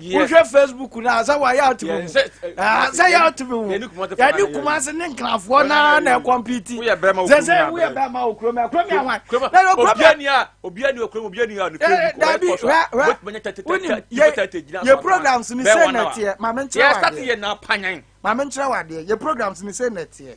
wohwɛ facebook no a sɛ wayɛ atumi ho sɛ yɛ atumi ho yɛne kuma ase ne nkrafoɔ naa na ɛkɔmpiti sɛ sɛ woyɛ bɛma wɔ kurom ɛkurom yɛ hwan dabi yɛ programs ne sɛ nɛteɛ mame nkyerɛ wadeɛ mame nkyerɛ wadeɛ yɛ programs ne sɛ nɛteɛ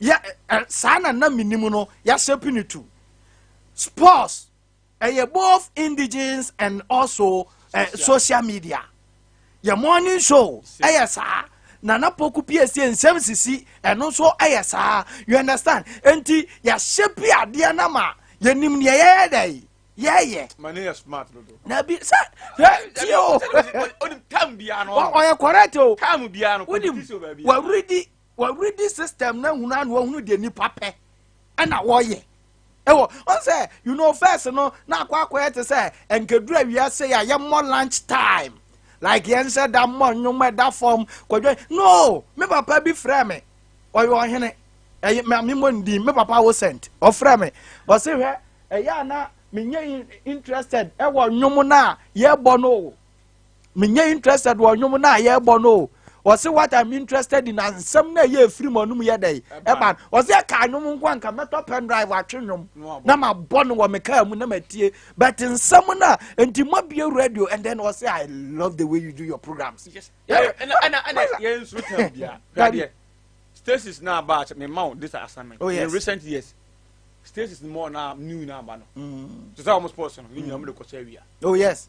yɛ ɛ saa na na menim no yɛahyɛ pini to sports ɛyɛ both indigens and also eh, social media yɛ morning show ɛyɛ saa nana poku piesie nsɛm sisi ɛno nso ɛyɛ saa you understand nti yɛahyɛ pi adeɛ no ma yɛnim neɛ yɛyɛ dɛ yɛyɛ na bi sɛ tie o ɔyɛ correct o wonim waweredi Wɔredi system na hunu ano ɔhunu deɛ nipa pɛ ɛna wɔyɛ ɛwɔ wɔn sɛ you know first no na akɔ akɔyɛ te sɛ nkeduru awia se a yɛ mmɔ lunch time like yɛn nhyɛ da mmɔ nnwom ɛda fam kɔdwa no me papa bi frɛ me ɔyɛ ɔhene ɛyɛ maame mo ndi me papa wo sent ɔfrɛ me ɔse hwɛ ɛyɛ ana menyɛ interested ɛwɔ nnwom no a yɛbɔ no menyɛ interested wɔ nnwom no a yɛrebɔ no o ɔse what i'm interested in asɛm no a ɛyɛ ɛfiri mu anum yɛ dɛn ɛba ɔse ɛka nnwom nko anka mɛtɔ pen drive atwe nnwom na mabɔ no wɔ me kaa mu na matie but nsɛm no a nti mabie radio and then ɔse i love the way you do your programs stasis na aba akyɛ mema wo this assignment oh, yes. in recent years stasis more na new na aba no mm. te sɛ ɔmo sports no ne nyina mo de kɔsɛ awia oh yes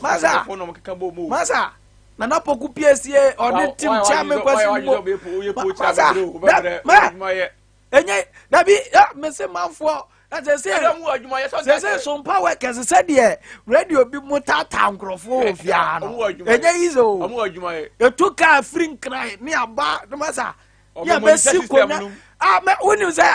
Masa, masa, nana poku piesie ɔne tim kyɛn mi nkɔsi mu. Masa, mɛ, enye dabi ya mesi manfoɔ sese sese sompa workers sɛdeɛ radio bi mu taataa nkurɔfoɔ wɔ fiaa no enye yi sɛ o etu kaa firi nkran ne aba ne masa yɛ bɛsi konya a mɛ wonim sɛ.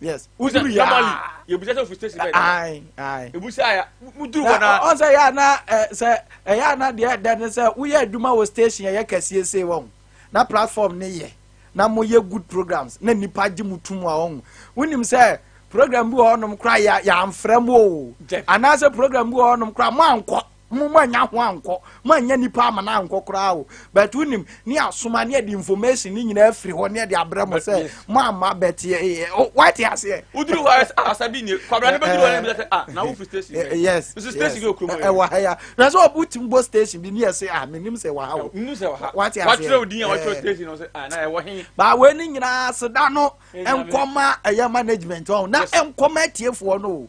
yes uduru ya normally yebusa sɛ ofi station bɛn ayi ayi ebusa ya uduru hɔ na ɔn sɛ yɛ ana sɛ ɛyɛ ana deɛ ɛdɛ ne sɛ woyɛ adwuma wɔ station ɛyɛ kɛseɛ sei wɔn na platform ne yɛ na mo yɛ good programs na nipa gye mo tum a wɔn wonim sɛ program bi wɔ hɔnom kora yɛ yɛanfrɛ mo o anaasɛ program bi wɔ hɔnom kora mo ankɔ Mo mo annya ho ankɔ, mo annya nipa amana ankɔ koraa o, but wo nim, ne asoma, ne ɛde information ne nyinaa firi hɔ, ne ɛde abrɛ mo sɛ, mo amma, but yɛ, yɛ, o, why te aseɛ? Uduru hɔ ayɛ, ah, sabi nie, kwabra ne bɛ duru hɔ ne bɛ sɛ, ah, na wo firi station bɛ, yes, nso station yes, bi okuro mu ayɛ, ɛwɔ ha ya, na sɛ ɔbu ti mbɔ station bi ne yɛ sɛ, ah, menim sɛ ɛwɔ ha o, menim sɛ ɛwɔ ha, wate aseɛ, wakyerɛ wo din a wakyerɛ station no sɛ, ah, na ɛwɔ he, baa wei ne nyinaa seda no, nkɔma ɛyɛ management ɔn, na nkɔma atiefoɔ no o.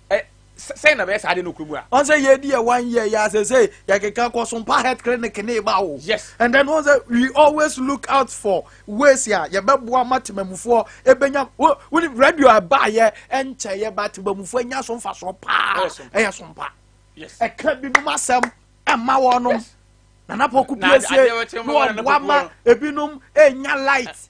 ɛ sɛn na bɛyɛ saa de no kuro mu a. wọn sɛ yɛ di yɛ one year yɛ asese yɛ keka kɔ so mpa health clinic ne ba o. yes. and then wọn sɛ we always look out for ways a yɛ bɛ boa ma temamufoɔ ebenya wo wo ni radio a ba yɛ ɛnkyɛ yɛ ba temamufoɔ enya so nfa so paa ɛyɛ so mpa yes. ɛka binom asɛm ɛma wɔn nom nana pɔku piesie na ɔboa ma ebinom enya light.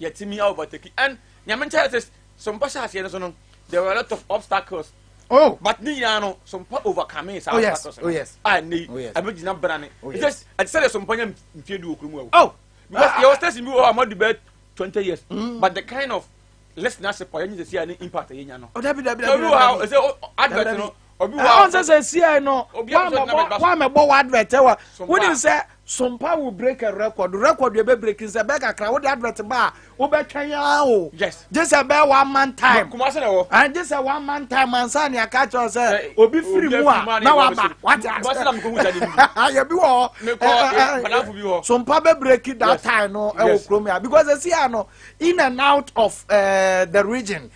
Yɛtumi overtake and nyame nkyɛn sɛ sompa hyɛ aseɛ no so no there were a lot of obstacles. Oh. But ne nyinaa no sompa overcome saa oh, yes. obstacles. Oh yes. Ah, ne oh, yes. ɛbɛ gyina brane. Oh yes. Just ɛte sɛ de sompa nya mfie du okuru mu ɛwɔ. Oh. Because ah. yɛ wɔ station bi wɔ hɔ a mo di bɛ twenty years. Mm. But the kind of listenership ɔyɛ nyi sɛ si a ne impact yɛ nya no. Ɔdabi dabi dabi. Ebi wɔ ha ɛsɛ advert no ɔnsɛ sɛ siai no woamɛbɔ wo advert wɔ wonim sɛ sompa wo break a record record yɛ bɛ breaking sɛ bɛɛ kakra wode advert ba a wobɛtwɛn aa o gye sɛ bɛɛ one man time gye sɛ one man time ansa ne aka kyerɛ sɛ obi firi mu a na waba wate asɛ yɛbi wɔ hɔ sompa bɛ breaking that time no ɛwɔ kurom ya because ɛsi a no in and out of uh, the region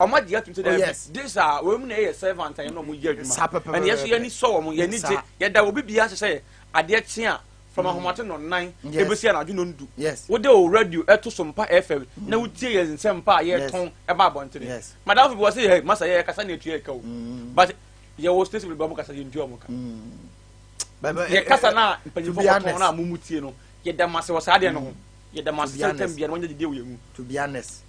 ɔmo agye atum sɛ oh, dɛbi this a wɔn mu na ɛyɛ servant a yɛn na ɔmo yɛ adwuma ɛna yɛso yɛn ni sɔ wɔn yɛn ni gye yɛda obi bi ase sɛ adeɛ kyen a from mm. ahomaten no nan ebesi anadwo no ndu wode o radio ɛto so mpa fm na mm. wotie yɛn nsɛm mpa a yɛtɔn ɛba abɔntene madamfo bi wɔ sɛ yɛ masa yɛ kasa na etua ɛka o mm. but yɛwɔ station bi ba ɔmo kasa yɛn tua ɔmo ka yɛ kasa na mpanyinfo kɔtɔn na amumu tie no yɛda mase wɔ saa adeɛ no ho yɛda mase sɛ ntɛm bia no wɔnyɛ gyedie wɔ yɛn mu. to be honest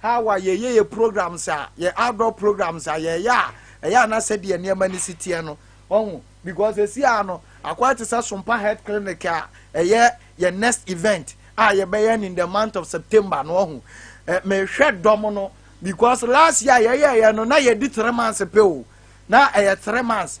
How a yɛyɛ yɛ programs a, yɛ outdoor programs a yɛyɛ a, ɛyɛ a na sɛdeɛ nneɛma no si teɛ no, ɔho, because ɛsi a no, akɔyɛ te sɛ Sompa Health Clinic a ɛyɛ yɛ next event a yɛbɛyɛ no in the month of September no, ɔho. Eh, mehwɛ dɔm no, because last year yɛyɛɛyɛ no, na yɛdi three months pɛ o, na ɛyɛ three months.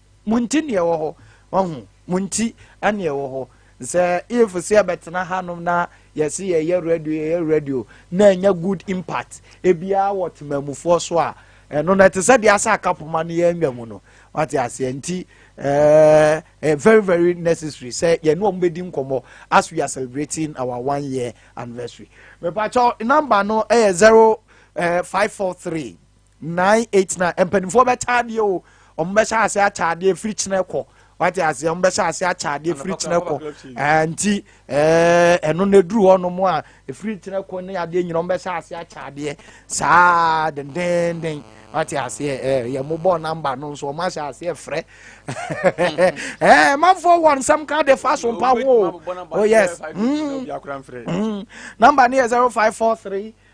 Mo nti neɛ ɛwɔ hɔ. Wahu? Mo nti ɛne ɛwɔ hɔ. Sɛ if sɛ yɛbɛtena hanom na yɛse yɛyɛ radio yɛyɛ radio na ɛnya good impact ebiara wɔ temamufoɔ so a, ɛno no ɛte sɛ deɛ asɛ aka poma no yɛanwa mu no. Wate aseɛ nti ɛɛ very very necessary sɛ yɛne wɔn bɛdi nkɔmmɔ as we are celebrating our one year anniversary. Mepakyɛw namba no ɛyɛ zero ɛɛ five four three nine eight nine mpanimfoɔ bɛkyɛ adeɛ o wɔn bɛhyɛ ase akyɛ adeɛ firi kyerɛ kɔ wate ase wɔn bɛhyɛ ase akyɛ adeɛ firi kyerɛ kɔ ɛɛ nti ɛɛ ɛno na eduru hɔ nom a efiri kyerɛ kɔ ne adeɛ nyina wɔn bɛhyɛ ase akyɛ adeɛ saa dendenden wate ase ɛɛ yɛn mo bɔ namba no nso wɔn ahyɛ ase ɛfrɛ ɛɛ manfoɔ wɔn nsɛm ka de fa so mpa ho o oh yes mm mm namba ne yɛ zero five four three.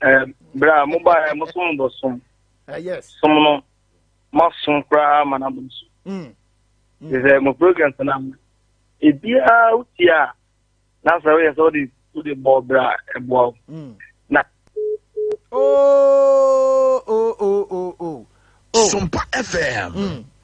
eh, berɛ a mobaɛ mo som bɔ som eh, som no moasom koraa ma no abom so mm. mm. sɛ mo programs no ama ebiaa wotie a na sɛ woyɛ sɛ wode wode bɔɔ berɛ a ɛboa wo mm. na oh, oh, oh, oh, oh. oh. Sumpa FM. Mm.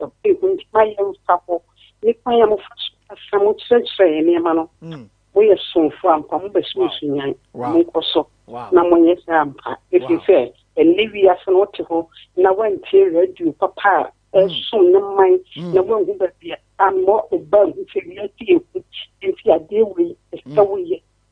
Ɔpɛ nti ma yɛmfa hɔ ne kwan a mofa so kasa, mokyerɛkyerɛ yɛn nneɛma no. Hmm. Moyɛ somfo ampa, mobɛso nsu nyan. Monkɔ so na monyɛ saa ampa, ɛfiri sɛ ɛnɛ wiase no wote hɔ na woantie radio papa a ɛsom ne man hmm. na woanhu baabi a ama ɔbaa hu sɛ wiase yɛ hu nti adeɛ wei ɛsɛ woyɛ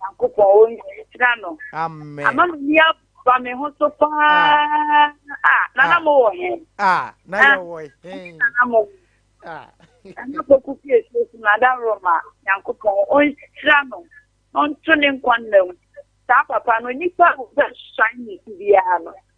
Nyankopɔn o nhyira no. Amen. Ama m'ani aba me ho so paa. Ah, ah na na ah. mo wɔ he? Ah, na ah. yɛ wɔ he? Na na mo. Ah. Ɛna kɔku fie so so na da Roma Nyankopɔn o nhyira no. Ɔnto ne nkwa nna mu. Saa papa no nipa wo bɛ shine biara no.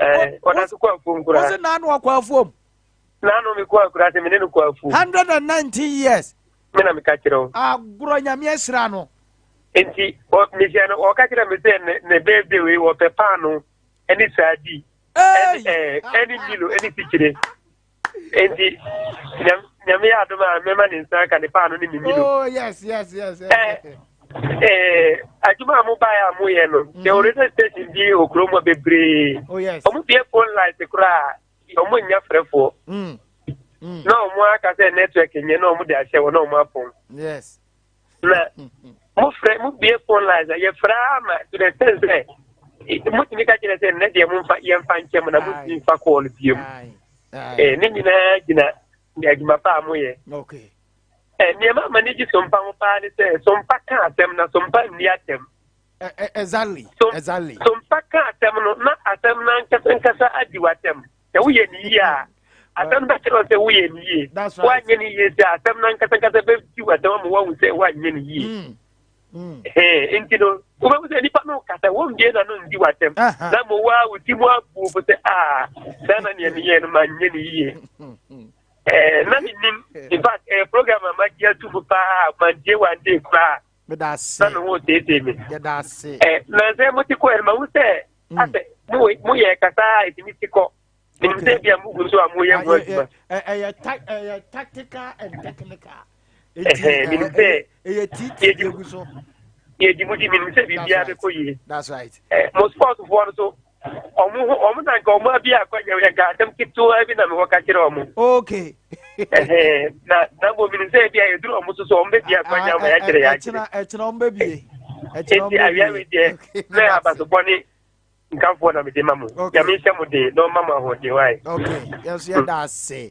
ɛɛ ɔda so kɔ afuom koraa wose naa no ɔkɔ afuom naa no mekɔ akura sɛ mene no kɔ afuom 119 years me na meka kyerɛ wo agorɔ nyame ahyira no nti mehyɛ no ɔka kyerɛ me sɛ ne birthday wei wɔpɛ paano ɛne saadi ɛne milo ɛne sikyire Enti nyame yɛ adom a mɛma ne nsa ka ne paano ne mimi no. Oh yes yes yes. yes. Eh, eh, adwuma a mobaeɛ a moyɛ no sɛ mhm. radio station bi wɔ kurom hɔ bebree oh, ɔmobie phone light koraa ɔmo nnya frɛfoɔ mm, mm. na ɔmo aka sɛ network nyɛ na ɔmo de ahyɛ wɔ na ɔmo apɔn na mo fɛ mo bie phone lines a yɛfrɛ ama to the extent sɛ motumi ka kyerɛ sɛ nnɛ deɛ momfa yɛmfa nkyɛ mo na motumi mfa kɔɔ no bie mu ne nyinaa gyina adwuma pa a moyɛ nneɛma ama ne gye sompa ho paa ne sɛ sompa ka asɛm na sompa nni atɛm exactly exactly sompa ka asɛm no na asɛm no ankasa nkasa adi w'atɛm sɛ woyɛ ne yie a asɛm no bɛkyerɛ sɛ woyɛ ne yie woanyɛ ne yie sɛ asɛm no ankasakasa bɛti wasɛm ama woahu sɛ woanyɛ ne yie mm. mm. nti no wobɛhu sɛ nnipa no kasa wɔmbie na no ndi wasɛm na mmɔ wo a woti mu abuo fo sɛ a saa na neɛ meyɛ no manyɛ ne yie na menim infact program a magye ato mu paa mantie wante koraa meda ase na me ho teetee me yɛda ase ɛ nansɛ mo ti kɔ ɛnma ho sɛ mm. asɛ mo mo yɛ kasa ɛtumi ti kɔ menim sɛ bia mo gu nso a mo yɛ ho adwuma ɛyɛ ɛyɛ tactical and technical menim sɛ ɛyɛ titi yɛgu so yɛdi mu di menim sɛ biribiara bɛkɔ yie mo sportfoɔ no so Wɔn ho wɔn na nka wɔn abi akɔ nyɛ nka asɛm ketewa bi na mewɔ ka kyerɛ wɔn. Okay. na na bɔ mini sɛ ebi a yɛduru wɔn so so wɔn bɛbi akɔ nyɛ wɔn yɛakyerɛ yɛakyerɛ. Ɛkyina ɛkyina wɔn bɛbie. Ɛkyina wɔn bɛbie. Eti awia mi deɛ mɛ abasopɔ ne nkanfoɔ na mi de ma mo. Nyame nhyɛ mo den na ɔma mo ahoɔden wa yi. Okay. Yɛn so yɛ da ase.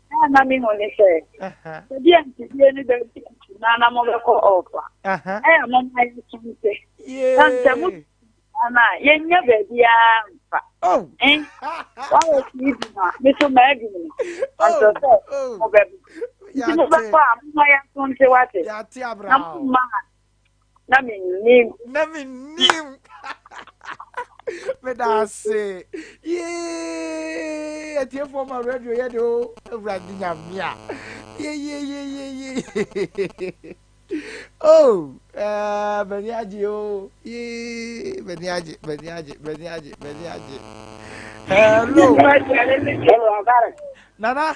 Nea na mehu ne sɛ, sɛdeɛ mfidie no bɛdi kutu na na mobɛkɔ ɔfa. Ɛyɛ mo ma yɛsonte. Na sɛ mo na yɛnnya baabiara mfa. Oh. Eh, wɔwɔ sii bi ma, me so maadi no. Ɔsɛ oh, sɛ oh. mobɛba. Nti mobɛkɔ a, moma yɛsonte wate. Na momma na mennim na mennim meda ase yee atiefoɔ ma radio yɛ de o awurade nyame a yeyeyeyeye o m'ani agye o yee m'ani agye m'ani agye m'ani agye m'ani agye hello hello nana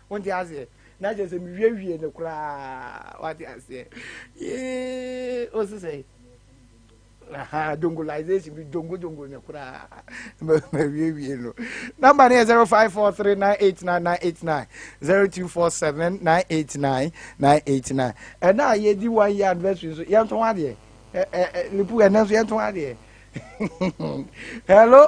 Wonte aseɛ? Na kyerɛ sɛ mewiawiee no koraa. Wate aseɛ? Yee, wo se sɛ? Aha, dongolization, me dongo dongo no koraa. Mawiewie no. Number no yɛ 0543989989, 0247989989. Ɛna a yɛdi one year anniversary nso, yɛnto ho adeɛ. Lipu, ɛnɛ nso yɛnto ho adeɛ. Hello?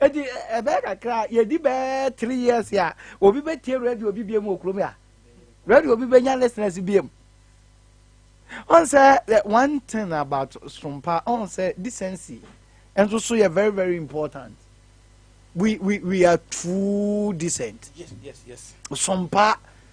Eti ɛbɛyɛ kakra yɛdi bɛɛ three years a obi bɛtie radio bi biem wɔ kurom a radio bi bɛnya listeners biem ɔn sɛ one thing about sompa ɔn sɛ decency nso so yɛ very very important we we we are too decent yes yes yes sompa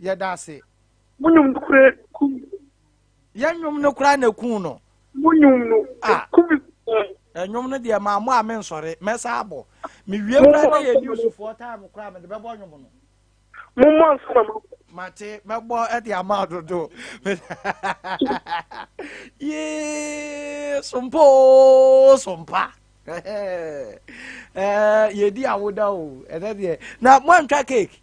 Yɛda ase. Mo nwom no kura kum. Yɛ nwom no kura na kun no. Mo nwom no kum. Nwom no deɛ maa mo a me nsɔre mɛsa abɔ me wie kura na yɛ newsfoɔ time kura me de bɛbɔ nwom no. Mo mmɔ nsa ma mo. Mate mɛbɔ ɛde ama dodo. Yee sompo sompa. Ɛɛ yɛ di awoda o ɛnɛ deɛ na mo antwa cake.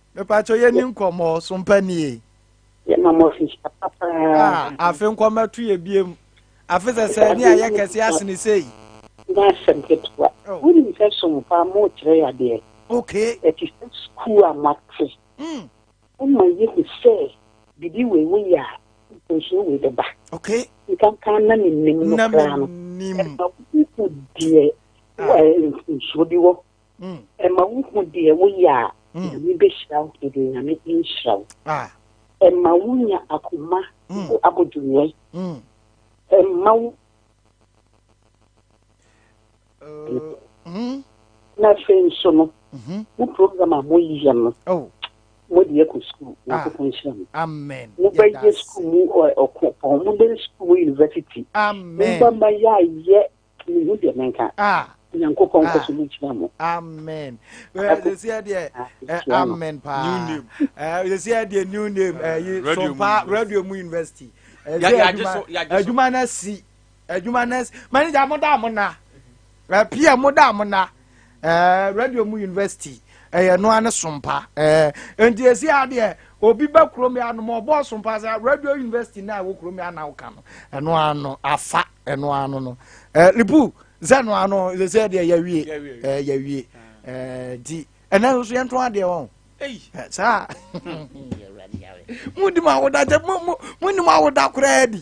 Mepakyɛ yɛ ni nkɔmɔ so mpa nie. Yɛ ma mo fi papa paa. Ah afe nkɔmɔ to yɛ biem. Afe sɛ sɛ ni ayɛ kɛse asene sei. Nyɛ asɛm ketewa. Wo nim sɛ so mpa mo kyerɛ yɛ adeɛ. Okay. Ɛte sɛ sukuu a mo ate. Hmm. Wo ma yɛ hu sɛ bibi wei wo yɛ a mponsuo wei bɛ ba. Okay. Nkanka na me nim no koraa no. Na me nim. Ɛma wo hu deɛ mponsuo bi wɔ. Ɛma wohu deɛ woyɛ a, Nyame bɛhyira wo, deɛ Nyame nhyira wo. Ɛma wonya akoma mu abodwoyɛ. Ɛma wo na afei nso no mo program a moyɛ no mode yɛkɔ sukuu nyankopɔn nhyira mo amen mobɛyɛ sukuu mu ɔko pɔn mobɛyɛ sukuu mu university mobɛma yɛayɛ Menhu deɛ menka. Ah. Nyankopɔn nkɔ so nhyira mo. Amen. Sisi ɛdeɛ amen paa. New name. Sisi ɛdeɛ new name. Ɛyi Sompa Radio Mu University. Adwuma na si. Adwuma na si. Manager mo da mo na. Pia mo da mo na. eh, radio mu university ɛyɛ eh, no ara ne sompa eh, nti esi adeɛ obi bɛ kurom yɛ anom ɔbɔ sompa sɛ radio university na ɛwɔ kurom yɛ anaw ka no ɛno ara no afa ɛno ara no no eh, lipu sɛ ɛno ara no sɛ sɛ deɛ yɛwie eh, yɛwie eh, nti ɛnna nso yɛn to adeɛ wɔn eh, saa mu di mu awoda kyɛ mu mu mu ni mu awoda koraa di.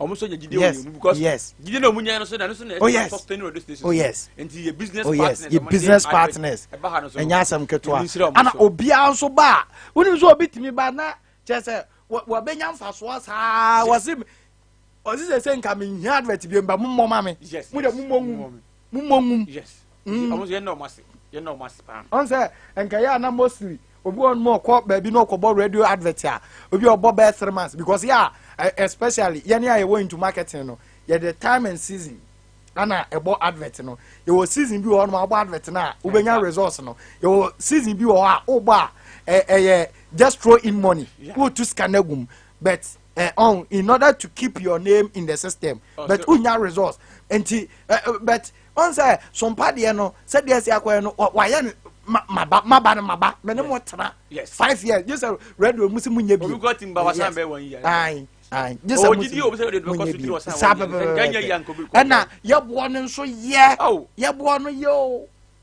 ɔmo nso nya gyidie wɔ yɛn mu because gyidie na ɔmo nya no so na ɛno so na ɛde sustain radio station oh yes nti yɛ business oh, yes. partners yɛ business partners ɛba ha no so ɛnyɛ asɛm ketewa ɛna obiara nso ba a wonim sɛ obi tumi ba na kyerɛ sɛ wɔbɛnya mfasoɔ saa wɔse ɔse sɛ sɛ nka menhia advert bi mba mommɔ ma me mo de mommɔ ngu Mommɔ ngum. Yes. Mm. Ɔmo yɛn na ɔmo ase. Yɛn na ɔmo ase paa. Ɔn sɛ nkɛyɛ ana mostly obi wɔ nom ɔkɔ baabi na ɔkɔbɔ radio advert a obi ɔbɔ bɛɛ three months because yɛ a especially yɛne a yɛwɔ into marketing no yɛde time and season ana ɛbɔ advert no yɛwɔ season bi wɔ hɔ nom abɔ advert no a wobɛnya results no yɛwɔ season bi wɔ hɔ a wobɔ a ɛyɛ just throw in money wotu sika no agum but eh, on oh, in order to keep your name in the system oh, but wonya resource nti eh, eh, but ɔn sɛ sompa deɛ no sɛdeɛ si akɔɛ no wayɛ no maba maba no maba mene mo tena five years gye sɛ radio mu sɛ monyɛ bio saa pɛpɛpɛɛna yɛboɔ no nso yɛ oh. yɛboɔ no yɛ o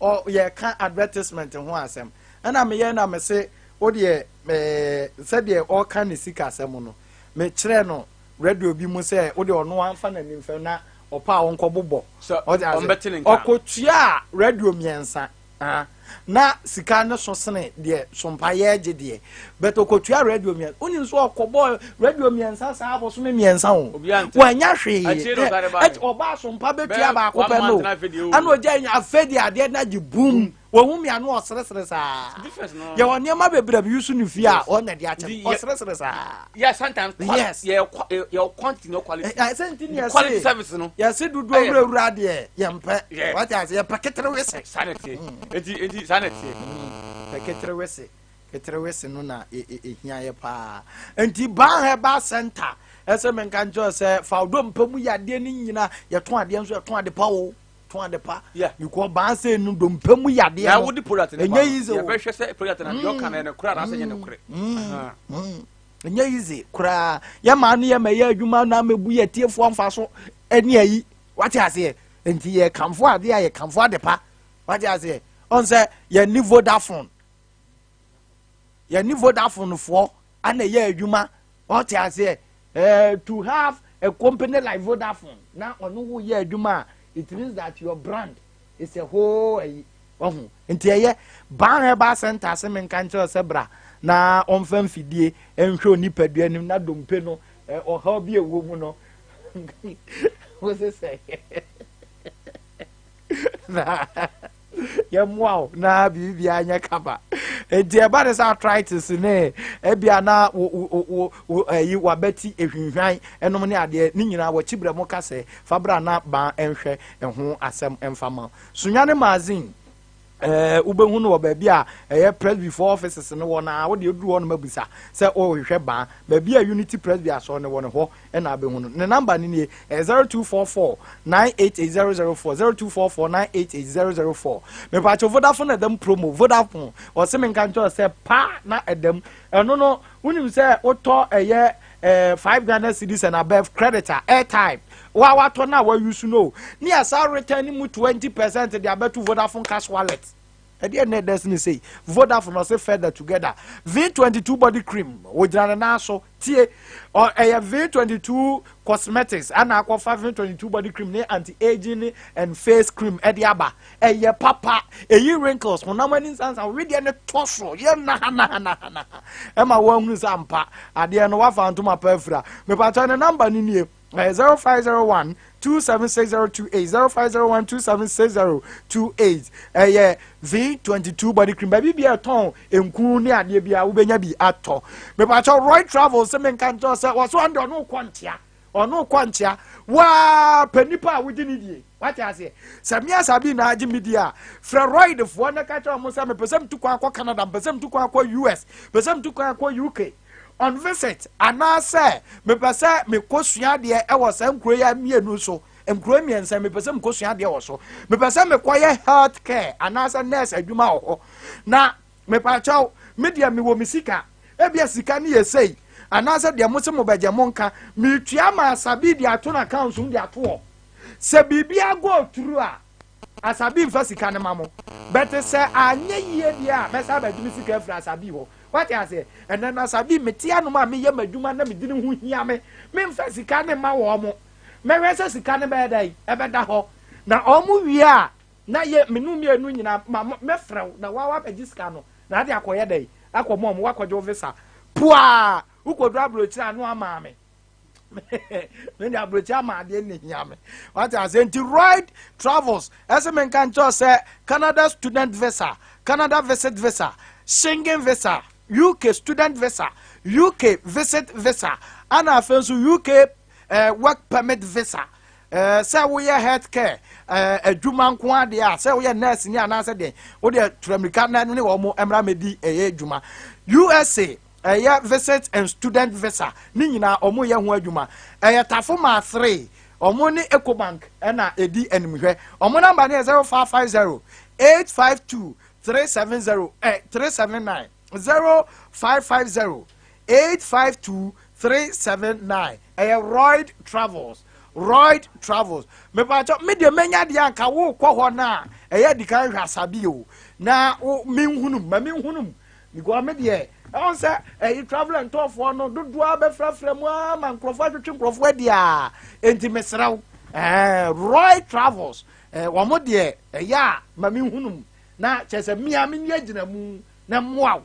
Ɔ yɛka advertisement ho asɛm ɛna meyɛ na mese wodeɛ ɛɛ sɛdeɛ ɔka ne sika asɛm no mekyerɛ no radio bi mu sɛ wodeɛ ɔno wamfa n'ani mfam na ɔpɛ a ɔnkɔ bobɔ Sɛ ɔde ase ɔmbɛte ne nka. ɔkɔtuaa radio mmiɛnsa ah, na sika no so sene deɛ sompayɛɛ gye deɛ But okotua radio mmiɛnsa. Wonim so ɔkɔbɔɔ radio mmiɛnsa saa abosome mmiɛnsa o. Wanya hwee. Ɛti ɔbaa so mpa bɛtua baako pɛ no. Ɛna ogya nya afei de adeɛ na gye boom. Wɔhu mmea no ɔseresere saa. Yɛwɔ nneɛma bebree a meyi so ne fie a ɔna de akyɛ no. Ɔseresere saa. Yes, sometimes. Yes. Yɛ quantity no quality. Ɛsɛ nti ne yɛse. Quality service no. Yɛse dodo awura awura deɛ yɛmpɛ. Wate ase yɛpɛ keterewe se. Sanity. Eti eti sanity. Pɛ keterewe se. keterewese no na ehia e, e, yɛ paa nti ban herbal center ɛsɛ me nka nkyɛn sɛ fawdo mpa mu yɛ adeɛ no nyina yɛtɔn adeɛ nso yɛtɔn ade pa o tɔn ade pa bikɔ ban sɛ no do mpa mu yɛ adeɛ no ɛnyɛ yize o yɛbɛhwɛ sɛ product na deɛ ɔka na ɛno kora anaasɛ nyɛ no korɛ ɛnyɛ yize koraa yɛ maa no yɛ ma yɛ adwuma na ama bu yɛ tiefoɔ mfa so ɛne ayi wate aseɛ nti yɛ kamfo adeɛ a yɛ kamfo ade pa wate aseɛ ɔn sɛ yɛ ni vodafone yɛne vodafone foɔ ana ɛyɛ adwuma ɔte aseɛ eh, to have a company like vodafone na ɔno wo yɛ adwuma a it means that your brand is a whole ayi ɔho nti ɛyɛ ban herbal center se menka nkyerɛ sɛ bra na ɔmfa mfidie nhwɛ onipadua anim na dompe no eh, ɔhaw bi ɛwɔ mu no wo se sɛ na yɛmmoa wo na biribiara nyɛ kama nti ɛba ne sɛ arthritis ne ebia na ɛyi wabɛti ehwinhwan ɛnom ne adeɛ ne nyinaa wɔkyi brɛ mo ka sɛ fabra na ban ɛnhwɛ ɛho asɛm ɛnfa ma sonwane magazine Ɛɛ, wobɛhu no wɔ baabi a ɛyɛ Presbyfoɔ offices no wɔ no ara. Wodeɛ woduru hɔ nom abisa sɛ worehwehwɛ Baa. Baabi a Unity Presby Asɔre no wɔ no, hɔ na wobɛhu no. Ne number no nie, ɛyɛ 0244 988004, 0244 988004. Mepaakyɛw, Vodafone na ɛdam promo, Vodafone. Wɔse menka nkyerɛ wo sɛ paa na ɛdam. Ɛno no, wonim sɛ wotɔ ɛyɛ. eh, five ghana cedis and above credit a airtime wa watɔ na wa use no ne yɛ saa return ne mu twenty percent de abɛto vodafone cash wallet ɛdeɛ na ɛdɛ sini sei vodafone ɔsɛ feather together v twenty two body cream ogyina ne nan so tie ɔ ɛyɛ v twenty two cosmetics ɛna akɔfa v twenty two body cream ne anti aging ne and face cream ɛde aba Ɛyɛ papa, eyi wrinkles, honam ani nsansan, wedeɛ no tɔ so, yɛ nahanahanaha, ɛma wɔahunu sɛ ampa, adeɛ no wafa ntoma pa afira. Mepakyɛ ne namba no nie, ɛyɛ 0501 276028, 0501 276028, ɛyɛ V22 body cream, baabi bia ɛtɔn nku ne adeɛ bia wobɛnya bi atɔ. Mepakyɛ Roy Travel sɛ menka nkyɛw sɛ wɔso ande ɔno kɔ nkyea, Ɔno kɔ nkyea. Waa pɛ nipa a wogye ne die. Wate aseɛ? Sɛ me asabi na agye me die a, frɛ Royd foɔ na ka kyerɛ wɔn sɛ mepɛ sɛ metu kwan akɔ Canada, mepɛ sɛ metu kwan akɔ US, mepɛ sɛ metu kwan akɔ UK on visit, anaasɛ mepɛ sɛ mekɔsua adeɛ ɛwɔ saa nkuro yi mmienu so, nkuro mmiɛnsa mepɛ sɛ mekɔsua adeɛ wɔ so, mepɛ sɛ mekɔyɛ health care anaasɛ nurse adwuma wɔ hɔ. Na Mepakyɛw, me deɛ mewɔ me sika, ebia sika no yɛ sei, anaasɛ deɛ mose mobɛgye monka, metua ma Asabi de ato n'accounts mu de ato hɔ. Sɛ biribiara go through a, Asabi mfa sika no ma mo. But sɛ anyɛ yie deɛ a, mɛsan abɛgye me sika afiri Asabi hɔ. Woate aseɛ? Ɛnnɛ no Asabi, mete anom a meyɛ m'adwuma na me dini ho hia me, memfa sika no mma wɔn. Mɛhwɛ sɛ sika no bɛyɛ dɛn? Ɛbɛda hɔ. Na wɔn wie a, Na ye me nu mienu nyina ma mɛfrɛ wo na woa woabɛgye sika no na ade akɔyɛ dɛn akɔ mom woakɔgye wo visa puaa wokɔduru aburokyire a ne woamaa me me de aburokyire ama adeɛ ne hia me wate ase nti Royd Travels ɛse menka nkyerɛ wo sɛ Canada student visa Canada visit visa Schengen visa UK student visa UK visit visa ana afei nso UK eh, work permit visa Eh, sɛ woyɛ health care eh, adwuma nko ara deɛ a sɛ woyɛ nurse ni anaasɛ deɛ wodeɛ turammirika na ne wɔn mmra mɛdi ɛyɛ adwuma usa ɛyɛ visit and student visa ne nyinaa wɔn yɛ ho adwuma ɛyɛ tafo maa three wɔn ne ecobank ɛna ɛdi animhwɛ wɔn namba no yɛ zero five five zero eight five two three seven zero ɛ eh, three seven nine zero five five zero. Eight five two three seven nine ɛyɛ royd travels royd travels mepatɔ me deɛ mɛnya deɛ anka wokɔ hɔ no a ɛyɛ adi kan hwɛ asabi o na wo menhunum ma menhunum because me deɛ ɛwɔ sɛ ɛyi travel and tourfoɔ no dodoɔ a bɛfrafra mu a ma nkurɔfoɔ atwetwe nkurɔfoɔ adi a enti mesrɛ wo ɛɛ royd travels ɛɛ wɔn deɛ ɛyɛ a ma menhunum na kyerɛ sɛ mmea menni agyina mu na mmoa wo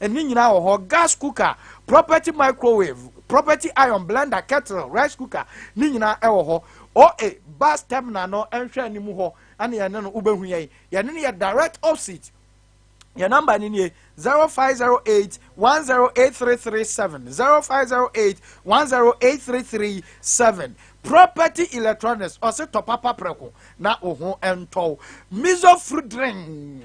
Ɛno nyinaa wɔ hɔ. Gas cooker, property microwave, property iron, blender, kettle, rice cooker, ne nyinaa ɛwɔ hɔ. OA bus terminal no nhwɛ anim hɔ ɛne yɛne no wobɛhu yɛn. Yɛne no yɛ direct opposite. Yɛn number no nie 0508 1083337 0508 1083337 property electronics ɔse tɔ papa prɛko na wo ho ntɔw miso fruit drink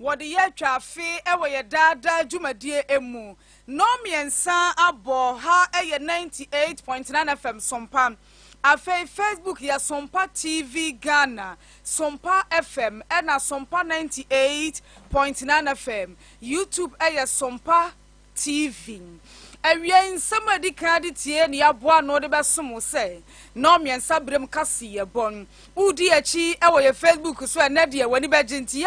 Wɔde yɛ atwa afe wɔ yɛ daa daa dwumadie mu. Nnɔn mmiɛnsa abɔ ha yɛ 98.9 FM Sompa. Afei Facebook yɛ Sompa TV Ghana, Sompa FM ɛna Sompa 98.9 FM. YouTube ɛyɛ Sompa TV. Awiei nsɛm a ɛdi kan de tie nea aboa ano de bɛsom wo sɛ nnɔn mmiɛnsa berɛ mu kaseɛ bɔ. Wodi yɛn akyi wɔ yɛ Facebook so ɛnɛ deɛ w'ani bɛgye nti yɛ